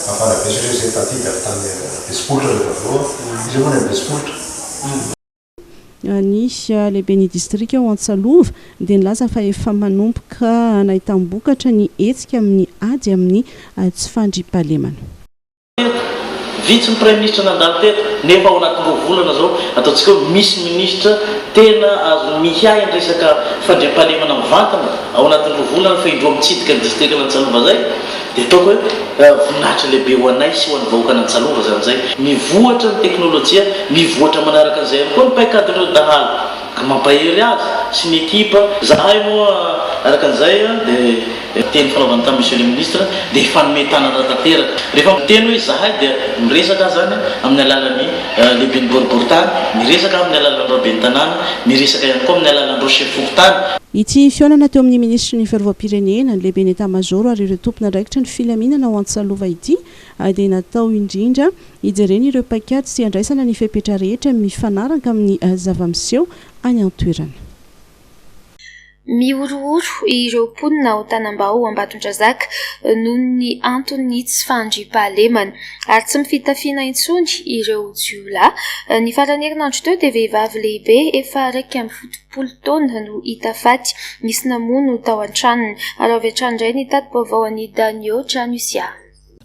mafana be satria izahay taty dia avy tany Besipolitra ny avy eo an, iza moa ny any Besipolitra? ny lehiben'ny distrika ao Antsalova dia nilaza fa efa manomboka nahitam-bokatra ny hetsika amin'ny ady amin'ny tsy fandriampahalemana. Vitsy ny praiminisitra nandalo teto nefa ao anatin'ny roa volana izao ataontsika hoe misy minisitra tena azony miahy ny resaka fandriampahalemana mivantana ao anatin'ny roa volana fa indroa mitsidika ny distrikan'Antsalova izay. Dia ataoko hoe voninahitra lehibe ho anay sy ho an'ny vahoakan'Antsalova izany izay. Mivoatra ny teknolojia, mivoatra manaraka an'izay ihany koa ny paikadin'ireo dahalo, ka mampahery azy sy ny ekipa. Izahay moa araka an'izay dia teny fanaovana tamin'i Monsieur le Ministre dia hifanome tanana tanteraka. Rehefa miteny hoe izahay dia miresaka aho izany amin'ny alalan'ny. lehiben'ny boriborintany, miresaka amin'ny alalan'ny raben'ny tanàna, miresaka ihany koa amin'ny alalan'ireo sefo fokontany. Ity fihaonana teo amin'ny minisitry ny Fiarovam-pirenena, ny lehiben'ny Etamazaoro ary ireo tompon'andraikitra ny filaminana ao Antsalova ity dia natao indrindra hijerena ireo paikady sy handraisana ny fepetra rehetra mifanaraka amin'ny zava-miseho any an-toerana. Mihorohoro ireo mponina ao Tanambao Ambatondrazaka noho ny anton'ny tsy fandriampahalemana, ary tsy mifitafiana intsony ireo jiolahy. Ny faran'ny herinandro teo dia vehivavy lehibe efa iraika amby fitopolo taona no hita faty, nisy namono tao an-tranony. Ary avy hatrany indray ny tati-baovao an'i Danio Tranosya.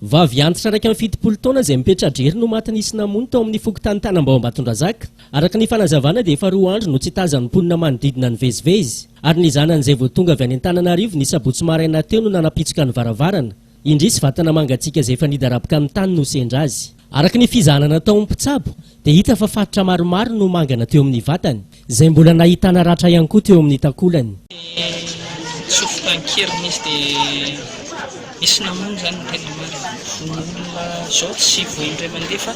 Vavy antitra iraika amby fitopolo taona izay mipetra-drery no maty nisy namono tao amin'ny fokontany Tanambao Ambatondrazaka. Araka ny fanazavana dia efa roa andro no tsy tazan'ny mponina manodidina ny vezivezy ary ny zanany izay vao tonga avy any Antananarivo ny sabotsy maraina teo no nanapitsoka ny varavarana. Indrisy, vatana mangatsiaka izay efa nidaraboka amin'ny tany no sendra azy. Araka ny fizahana nataon'ny mpitsabo dia hita fa faritra maromaro no mangana teo amin'ny vatany, izay mbola nahitana ratra ihany koa teo amin'ny takolany. Ny sofinta an-keriny izy dia misy namono izany no tena marina. Ny olona izao tsy voa indray mandeha fa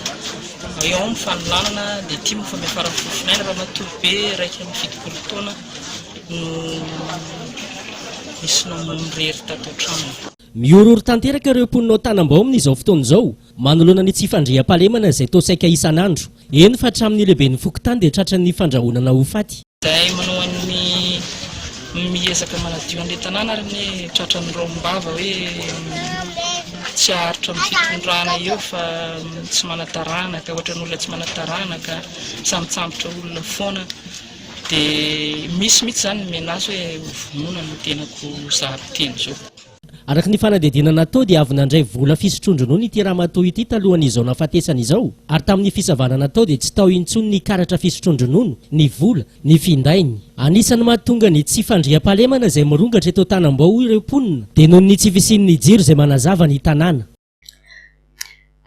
eo ao ny fanolanana, letima efa miafaran'ny fofinaina, ramatoa be iraika amby fitopolo taona no nisy namono irery tato an-tranony. Mihorohoro tanteraka ireo mponina ao Tanambao amin'izao fotoana izao Manoloana ny tsy fandriampahalemana izay toa saika isan'andro, eny fa hatramin'ny lehiben'ny fokontany dia tratran'ny fandrahonana ho faty. Izay manohana ny miezaka manadio an'ilay tanàna ary anie tratran'ny raombava hoe tsy haharitra amin'ny fitondrana eo fa tsy manataranaka, ohatran'ny olona tsy manataranaka, sambotsambotra olona foana dia misy mihitsy izany ny menace hoe ho vonoina ny tenako zary teny izao. Araka ny fanadihadiana natao dia avy nandray vola fisotroan-dronono ity ramatoa ity talohan' izao nahafatesany izao ary tamin'ny fisavana natao dia tsy tao intsony ny karatra fisotroan-dronono, ny vola, ny findainy. Anisan'ny mahatonga ny tsy fandriampahalemana izay mirongatra eto Tanambao ireo mponina dia noho ny tsy fisian'ny jiro izay manazava ny tanàna.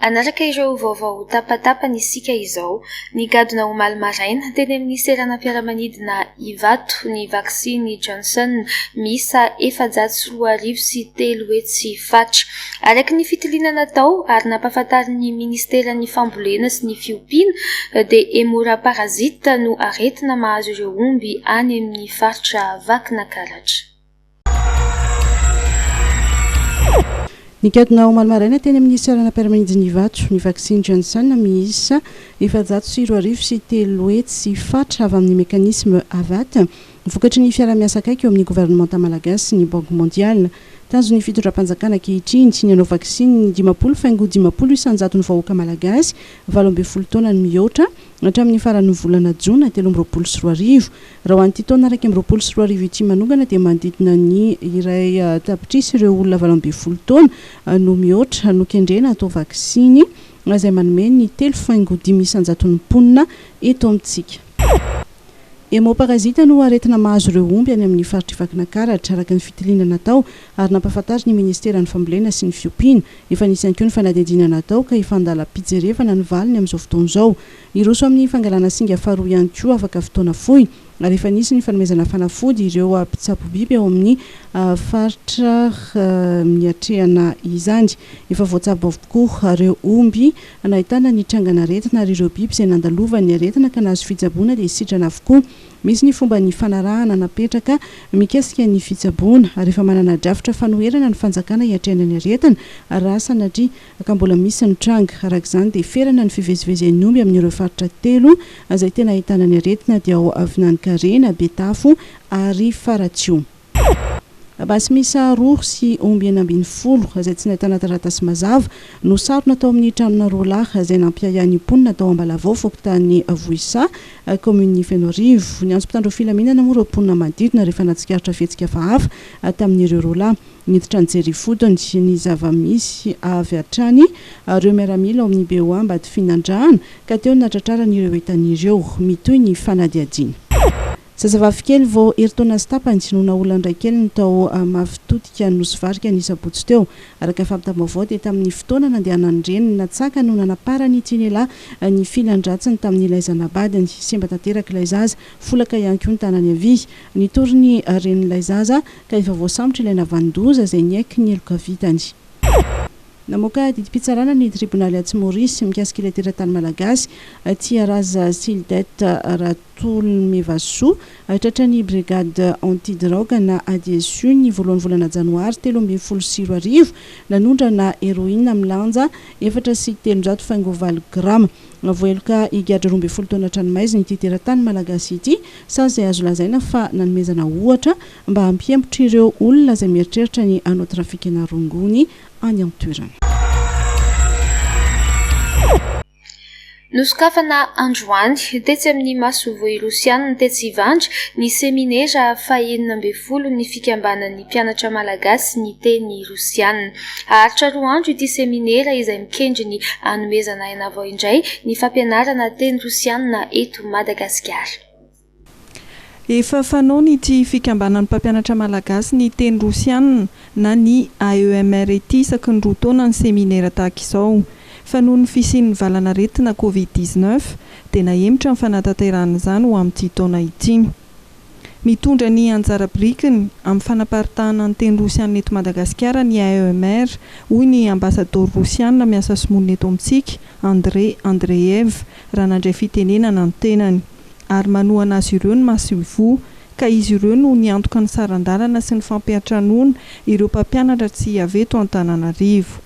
Hanaraka ireo vaovao ho tapatapany isika izao. Nigadona omaly maraina, teny amin'ny seranam-piaramanidina Ivato, ny vaksiny Johnson miisa efajato sy roa arivo sy telo hetsy fatra. Araka ny fitiliana natao ary nampahafantarin'ny Ministeran'ny Fambolena sy ny Fiompiana, dia Hemoraparazita no aretina mahazo ireo omby any amin'ny faritra Vakinakaratra. Nigadona omaly maraina teny amin'ny seranam piaramanidin'Ivato ny vaksiny Janssen miisa efajato sy roa arivo sy telo hetsy fatra avy amin'ny mekanisma Avat, vokatry ny fiaraha-miasa akaiky eo amin'ny governemanta malagasy sy ny Banky Mondiale. Tanjon'ny fitondram-panjakana ankehitriny ny hanao vaksiny ny dimampolo faingo dimampolo isanjaton'ny vahoaka malagasy valo ambin'ny folo taona no mihoatra hatramin'ny faran'ny volana jona telo amby roapolo sy roa arivo. Raha ho an'ity taona iraika amby roapolo sy roa arivo ity manongana dia manodidina ny iray tapitrisa ireo olona valo ambin'ny folo taona no mihoatra no kendrena hatao vaksiny, izay manome ny telo faingo dimy isan-jaton'ny mponina eto amintsika. Hemoparazita no aretina mahazo ireo omby any amin'ny faritr'i Vakinakaratra, araka ny fitiliana natao ary nampahafantarin'ny Ministeran'ny Fambolena sy ny Fiompiana. Efa nisy ihany koa ny fanadihadiana natao ka efa an-dalam-pijerevana ny valiny amin'izao fotoana izao. Hiroso amin'ny fangalana singa faharoa ihany koa afaka fotoana fohy, ary efa nisy ny fanomezana fanafody ireo mpitsabo biby ao amin'ny faritra niatrehana izany. Efa voatsabo avokoa ireo omby nahitana ny trangan'aretina ary ireo biby izay nandalovan'ny aretina ka nahazo fitsaboana dia sitrana avokoa. Misy ny fomba nifanarahana napetraka mikasika ny fitsaboana ary efa manana drafitra fanoherana ny fanjakana hiatrehana ny aretina raha sanatria ka mbola misy ny tranga. Araka izany dia ferana ny fivezivezen'ny omby amin'ireo faritra telo izay tena ahitana ny aretina dia ao Avinanon-karena, Betafo ary Faratsiho. Basy miisa roa sy omby enina ambin'ny folo izay tsy nahitana taratasy mazava no sarona tao amin'ny tranona roa lahy izay nampiahiahin'ny mponina tao Ambalavao fokontany Vohisaha kaominin'i Fenoarivo. Niantso mpitandro filaminana moa ireo mponina manodidina rehefa nahatsikaritra fihetsika hafahafa tamin'ireo roa lahy. Niditra nijery ifotony ny zava-misy avy hatrany ireo miaramila ao amin'ny BOA Ambatofinandrahana ka teo no natratrarany ireo entany ireo. Mitohy ny fanadihadiana. Zazavavy kely vao herintaona sy tapany no naolan'ny raikeliny tao Mafitotika Nosy Varika ny sabotsy teo. Araka ny fampitam-baovao dia tamin'ny fotoana nandehanan'ny reniny natsaka no nanaparan'ity lehilahy ny filan-dratsiny tamin'ilay zanabadiny. Simba tanteraka ilay zaza, folaka ihany koa ny tanany havia. Nitory ny renin'ilay zaza. ka efa voasambotra ilay navanon-doza izay niaiky ny heloka vitany. Namoaka didim-pitsarana ny tribonaly atsy Maurice mikasika ilay teratany malagasy, Tiaraza Sildet Ratolomivasoa, tratran'ny Brigade Antidrogue na ADSU ny voalohan'ny volana janoary telo ambin'ny folo sy roa arivo, nanondrana heroine milanja efatra sy telonjato faingo valo grama. Navoheloka higadra roa ambin'ny folo taona an-tranomaizina ity teratany malagasy ity, sazy izay azo lazaina fa nanomezana ohatra mba hampihemotra ireo olona izay mieritreritra ny hanao trafikana rongony any an-toerana. Nosokafana androany, tetsy amin'ny masoivoho Irosiana, tetsy Ivandry, ny seminera fahenina ambin'ny folon'ny Fikambanan'ny Mpianatra Malagasy Niteny Rosiana. Haharitra roa andro ity seminera izay mikendry ny hanomezana aina vao indray ny fampianarana teny rosianina eto Madagasikara. Efa fanaon' ity Fikambanan'ny mpampianatra malagasy ny teny rosianina na ny AEMR ity isaky ny roa taona ny seminera tahaka izao fa noho ny fisian'ny valanaretina Covid dix-neuf dia nahemotra ny fanatanterahana izany ho amin'ity taona ity. Mitondra ny anjara birikiny amin'ny fanaparitahana ny teny rosianina eto Madagasikara ny AEMR, hoy ny Ambasadaoro rosianina miasa sy monina eto amintsika, Andrey Andreev, raha nandray fitenenana ny tenany. Ary manohana azy ireo ny masoivoho, ka izy ireo no niantoka ny saran-dalana sy ny fampiantranoana ireo mpampianatra tsy hiavy eto Antananarivo.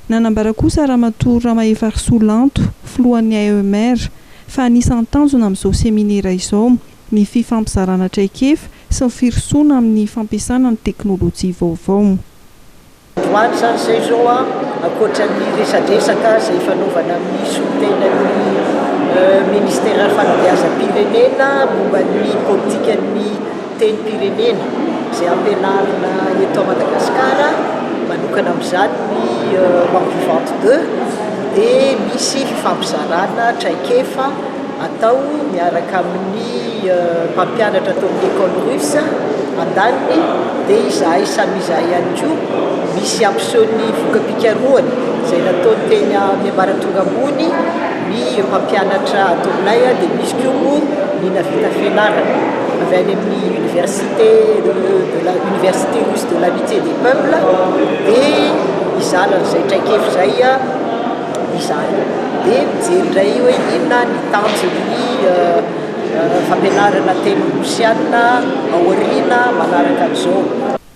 Nanambara kosa Ramatoa Ramahefarisoa Lanto, filohan'ny AEMR, fa anisan'ny tanjona amin'izao seminera izao ny fifampizarana traikefa sy ny firosoana amin'ny fampiasana ny teknolojia vaovao. Ho any izany izay izao, ankoatra ny resadresaka izay ifanaovana amin'ny solontenan'ny Minisiteran'ny Fanabeazam-pirenena momba ny politikan'ny tenim-pirenena izay ampianarina eto Madagasikara manokana amin'izany ny Langue vivante deux dia misy fifampizarana traikefa atao miaraka amin'ny mpampianatra ato amin'ny école russe andaniny dia izahay samy izahay ihany koa misy ampiseho ny voka-pikarohana izay nataony teny amin'ny ambaratonga ambony Ny mpampianatra atoronay dia misy koa moa ny nahavita fianarana avy any amin'ny université de la université russe de l'amitié des peuples dia hizaly an'izay traik'efy izay izahay dia mijery indray hoe inona ny tanjon'ny fampianarana teny rosiana aoriana manaraka an'izao.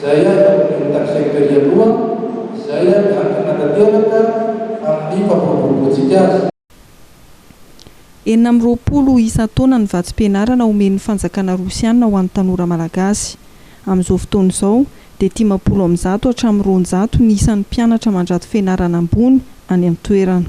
izay namorian'ny Taxeeker ialoha, izay miankina tanteraka amin'ny fampiroboroboantsika azy. Enina amby roapolo isan-taona ny vatsim-pianarana omen'ny fanjakana rosiana ho an'ny tanora malagasy. Amin'izao fotoana izao, dia dimampolo amin'ny zato hatramin'ny roanjato ny isan'ny mpianatra mandrato fianarana ambony any an-toerana.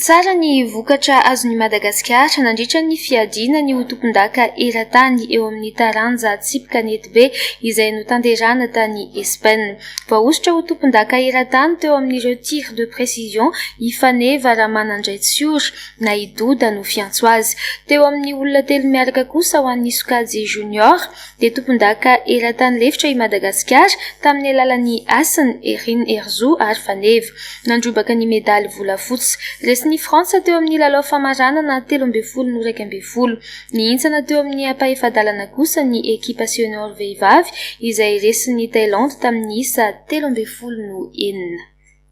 Tsara ny vokatra azon'i Madagasikara nandritra ny fiadiana ny ho tompondaka eran-tany eo amin'ny taranja tsipy kanetibe izay notanterahina tany Espaina. Voahosotra ho tompondaka eran-tany teo amin'ireo tir de précision i Faneva Ramanandraitsiora na i Doda no fiantso azy. Teo amin'ny olona telo miaraka kosa ho an'ny sokajy junior Dia tompondaka eran-tany lefitra i Madagasikara tamin'ny alalan'i Hasina, Herine, Herizo ary Faneva. Nandrombaka ny medaly volafotsy. Resin'i Frantsa teo amin'ny lalao famaranana telo ambin'ny folo no iraika ambin'ny folo. Nihintsana teo amin'ny ampahefa-dalana kosa ny ekipa senior vehivavy izay resin'i Thailandy tamin'ny isa telo ambin'ny folo no enina.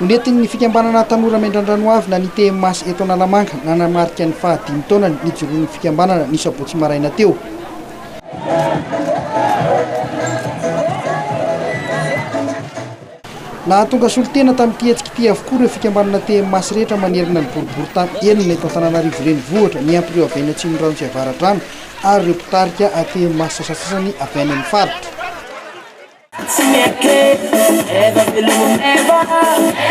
Ho nentin'ny fikambanana Tanora Mendrandranoavina ny TMAS eto Analamanga nanamarika ny faha dimy taonany nijoroan'ny fikambanana ny sabotsy maraina teo. Nahatonga solontena tamin'ity hetsika ity avokoa ireo fikambanana TMAS rehetra manerana ny boriboritany enina eto Antananarivo Renivohitra, ny Ampireo avy any Atsimondrano sy Avaradrano ary ireo mpitarika TMAS sasasasany avy any amin'ny faritra. Tsy mety Eva veloma Eva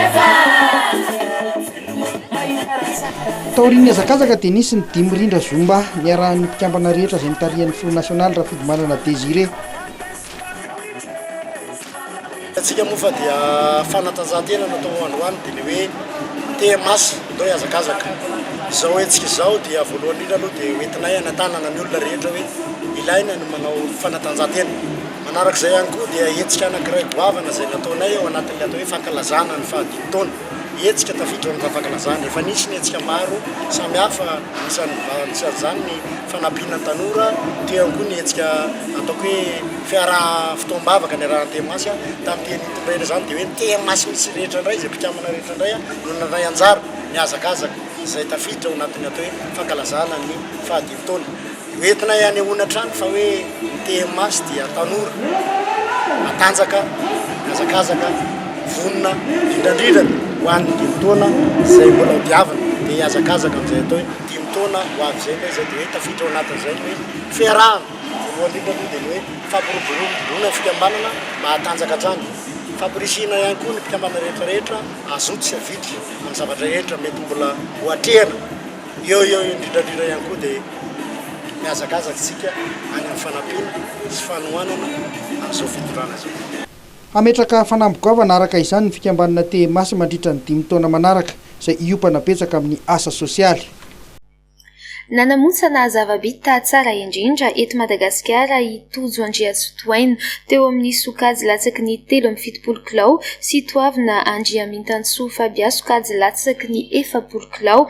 Eva veloma mahita raha tsara. Taorian'ny hazakazaka dia nisy ny dimy rindra zumba niarahan'ny mpikambana rehetra izay nitarihan'ny filoha nasionaly Rafidimanana Désiré. Antsika moa fa dia fanatanjahantena no atao androany dia ny hoe TMAS ndao hihazakazaka. Izao hetsika izao dia voalohany indrindra aloha dia hoentinay hanatanana ny olona rehetra hoe ilaina ny manao fanatanjahantena. Manaraka izay ihany koa dia hetsika anankiray goavana izay nataonay ao anatin'ny atao hoe fankalazana ny fahadimy taona. Hetsika tafiditra ao amin'izany fankalazana. Efa nisy ny hetsika maro samihafa, anisan'ny anisan'izany ny fanampiana ny tanora, teo ihany koa ny hetsika ataoko hoe fiaraha fotoam-bavaka niarahan'ny TMAS. Tamin'ny teny nitondray indray izany dia hoe ny TMAS mihitsy rehetra indray, izay mpikambana rehetra indray no nandray anjara nihazakazaka izay tafiditra ao anatin'ny atao hoe fankalazana ny fahadimy taona. Ho entinay anehoana hatrany fa hoe ny TMAs dia tanora, matanjaka, mihazakazaka, vonona, indrindrindra ho an'ny dimy taona izay mbola ho diavina dia hihazakazaka amin'izay atao hoe dimy taona ho avy izay, izay dia hoe tafiditra ao anatin'izay ny hoe fiarahana. Voalohany indrindra aloha dia ny hoe fampiroboroboana ny fikambanana mba hatanjaka hatrany, fampirisihina ihany koa ny mpikambana rehetra rehetra hazoto sy havitry amin'ny zavatra rehetra mety mbola ho atrehina. Eo eo indrindrandrindra ihany koa dia mihazakazaka isika any amin'ny fanampiana sy fanohanana amin'izao fitondrana izao. Hametraka fanamby goavana araka izany ny fikambanana Tehemaso mandritra ny dimy taona manaraka, izay hiompana betsaka amin'ny asa sosialy. Nanamontsana zava-bita tsara indrindra eto Madagasikara i Tojo Andriatsotohaina, teo amin'ny sokajy latsaky ny telo amby fitopolo kilao, sy Toavina Andriamintantsoa Fabia, sokajy latsaky ny efapolo kilao.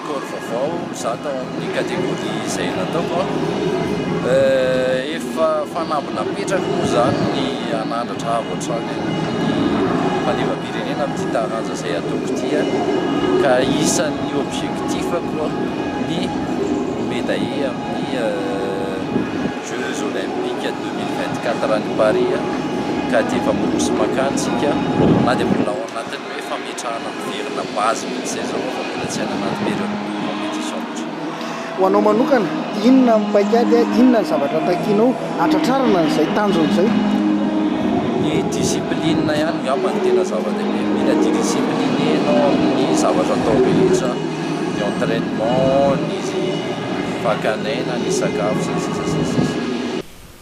Sport vaovao za tao amin'ny categorie izay nataoko efa fanamby napetrako moa zany ny hanandratra avo hatrany ny fandevam-pirenena amin'ity taranja izay ataoko ity ka isan'ny objectif-ko ny ho medaille amin'ny jeux olympiques deux mille vingt-quatre any Paris ka aty efa miroso mankany tsika na dia mbola ao anatin'ny hoe fametrahana miverina base mihitsy izay izao fa mbola tsy any anaty période de compétition loatra. Ho anao manokana, inona ny paik'ady, inona ny zavatra takianao hatratrarana an'izay tanjona izay? Ny discipline ihany ngamba no tena zava-dehibe, mila didiscipline ianao amin'ny zavatra atao rehetra, ny entrainement, ny fakan'aina, ny sakafo sy ny sisa sy ny sisa.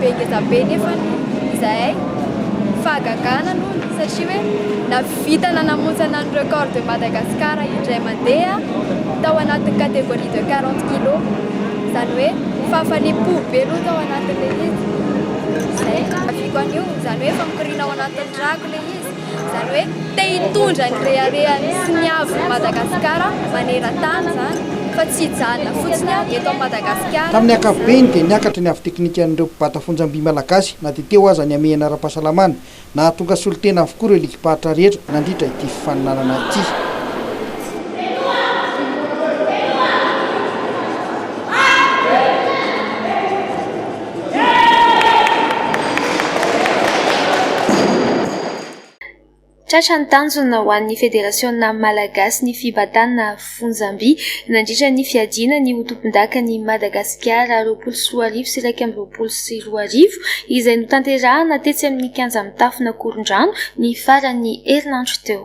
Be ngeza be nefa izahay fahagagana nony satria hoe navita nanamontsana ny record de Madagascar indray mandeha tao anatin'ny categorie de 40 kilos izany hoe fahafaliam-po be aloha tao anatin'ilay izy izay, aviako an'io izany hoe famokoriana ao anatin'ny ràko ilay izy. Izany hoe te hitondra ny reharehany sy ny haavon'i Madagasikara maneran-tany izany fa tsy hijanona fotsiny aho eto amin'i Madagasikara. Tamin'ny ankapobeny dia niakatra ny haavy teknikan'ireo mpibata fonjam-by malagasy na dia teo aza ny hamehana ara-pahasalamana. Nahatonga solontena avokoa ireo ligim-paritra rehetra nandritra ity fifaninanana ity. Tratra ny tanjona ho an'ny Federasiona Malagasy ny fibatana fonjam-by nandritra ny fiadiana ny ho tompondakan'i Madagasikara roapolo sy roa arivo sy iraika amby roapolo sy roa arivo, izay notanterahana tetsy amin'ny kianja mitafona Korondrano ny faran'ny herinandro teo.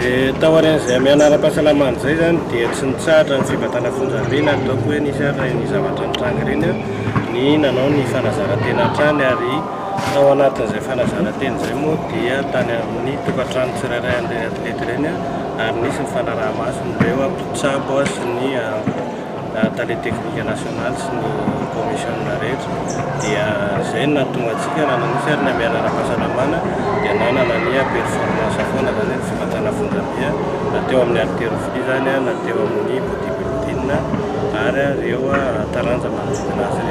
Dia taorian'izay hamehana ara-pahasalamana izay izany dia tsy nitsahatra ny fibatana fonjam-be na ataoko hoe nisy ary ireny zavatra nitranga ireny ny nanao ny fanazaran-tena hatrany ary tao anatin'izay fanazaran-tena izay moa dia tany amin'ny tokantrano tsirairay an'ireny atleta ireny ary nisy ny fanaraha-maso ireo mpitsabo sy ny Tale teknika nasionaly sy ny kaomisionina rehetra dia izay no nahatonga antsika nanana io fiaraha-miaina ara-pahasalamana dia nanana ny performance foana izany hoe ny fifantsana fonjam-be na teo amin'ny haltérophilie izany na teo amin'ny bodybuilding ary ireo taranja manodidina azy ireo.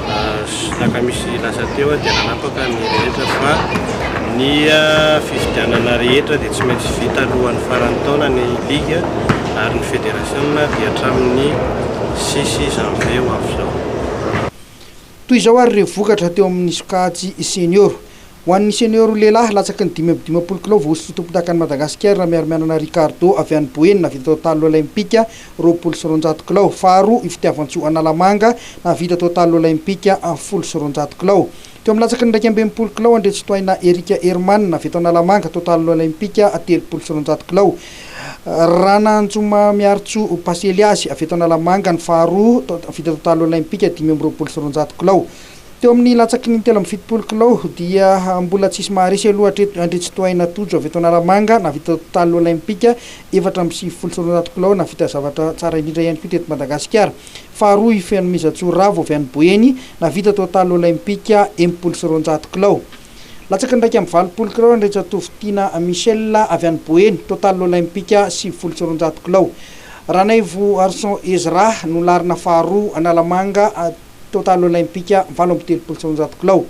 Zaka misy lasa teo dia nanapaka ny rehetra fa ny fifidianana rehetra dia tsy maintsy vita alohan'ny faran'ny taona ny ligue ary ny federasiona dia hatramin'ny sisy janvier ho avy izao. Toy izao ary ireo vokatra teo amin'ny sokajy senior. Ho an'ny senior lehilahy, latsaky ny dimy amby dimampolo kilao vao hosotra tompondakan'i Madagasikara Ramiarimianana Ricardo avy any Boeny nahavita total olaimpika roapolo sy roanjato kilao. Faharoa i Fitiavantsoa Analamanga nahavita total olaimpika folo sy roanjato kilao. Teo amin'ny latsaky ny iraika amby enimpolo kilao Andriantsitohaina Eric Herman avy eto Analamanga total olaimpika telopolo sy roanjato kilao. Rananjoma Miarintsoa Pasy Eliasy avy eto Analamanga ny faharoa nahavita total olaimpika dimy amby roapolo sy roanjato kilao. Teo amin'ny latsaky ny telo amby fitopolo kilao dia mbola tsisy maharesy aloha hatreto Andritsitohaina Tojo avy eto Analamanga nahavita totaly olaimpika efatra amby sivifolo sy roanjato kilao nahavita zavatra tsara indrindra ihany koa teto Madagasikara. Faharoa i Fenomenjatsoa Ravo avy any Boeny nahavita totaly olaimpika enimpolo sy roanjato kilao. Latsaky ny iraika amby valopolo kilao Andriantsatovo Tiana Michel avy any Boeny, totaly olaimpika sivifolo sy roanjato kilao. Ranaivo Arson Ezra no larina faharoa Analamanga, Total Olympique valo amby telopolo sy roanjato kilao.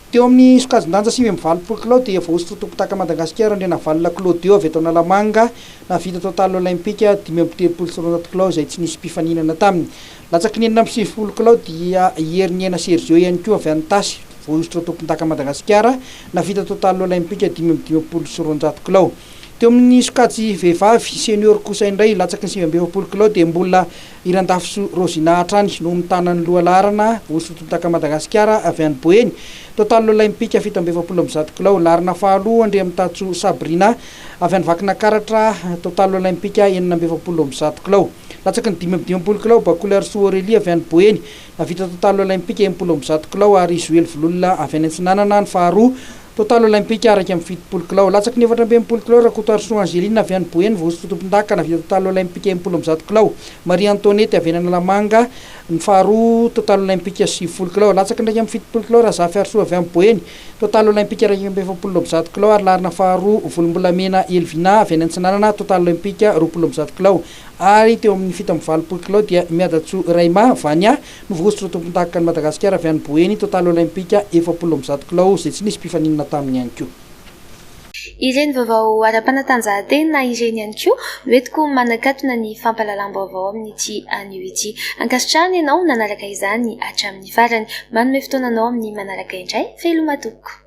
Teo amin'ny sokajin-danja sivy amby valopolo kilao dia voahosotra ho tompon-daka Madagasikara Andrianavalona Claudio avy eto Analamanga nahavita Total Olympique dimy amby telopolo sy roanjato kilao izay tsy nisy mpifaninana taminy. Latsaky ny enina amby sivifolo kilao dia i Heriniaina Sergio ihany koa avy any Tasy voahosotra ho tompon-daka Madagasikara nahavita Total Olympique dimy amby dimampolo sy roanjato kilao. Teo amin'ny sokajy vehivavy senior kosa indray latsaky ny sivy amby efapolo kilao dia mbola I Randafysoa Rosina hatrany no mitana ny loha laharana ho sotontaka Madagasikara avy any Boeny, Total Olaimpika fito amby efapolo amby zato kilao, laharana faharoa Andriamitatso Sabrina avy any Vakinakaratra, Total Olaimpika enina amby efapolo amby zato kilao, latsaky ny dimy amby dimampolo kilao, Bakolarisoa Aurélie avy any Boeny, navita Total Olaimpika enimpolo amby zato kilao ary Zoely Vololona avy any Antsinanana ny faharoa, Total Olympic araika amby fitopolo kilao. Latsaky ny efatra amby enimpolo kilao Rakotoarisoa Angeline avy any Boeny vao sosotra tompondahy ka nahavita Total Olympic enimpolo amby zato kilao. Maria Antoinette avy any Analamanga ny faharoa Total Olympic sivifolo kilao. Latsaky ny iraika amby fitopolo kilao Razafiharisoa avy any Boeny, Total Olympic iraika amby efapolo amby zato kilao ary larina faharoa Volombolamena Elvina avy any Antsinanana Total Olympic roapolo amby zato kilao. Ary teo amin'ny fito amby valopolo kilao dia Miadatsoa Raima avy any Novosotra ho tompondakan'i Madagasikara avy any Boeny Total Olympika efapolo amby zato kilao izay tsy nisy mpifaninana taminy ihany koa. Ireny vaovao ara-panatanjahantena ireny ihany koa no entiko manakatona ny fampahalalam-baovao amin'ity anio ity. Ankasitrahana ianao nanaraka izany hatramin'ny farany. Manome fotoana anao amin'ny manaraka indray, veloma tompoko.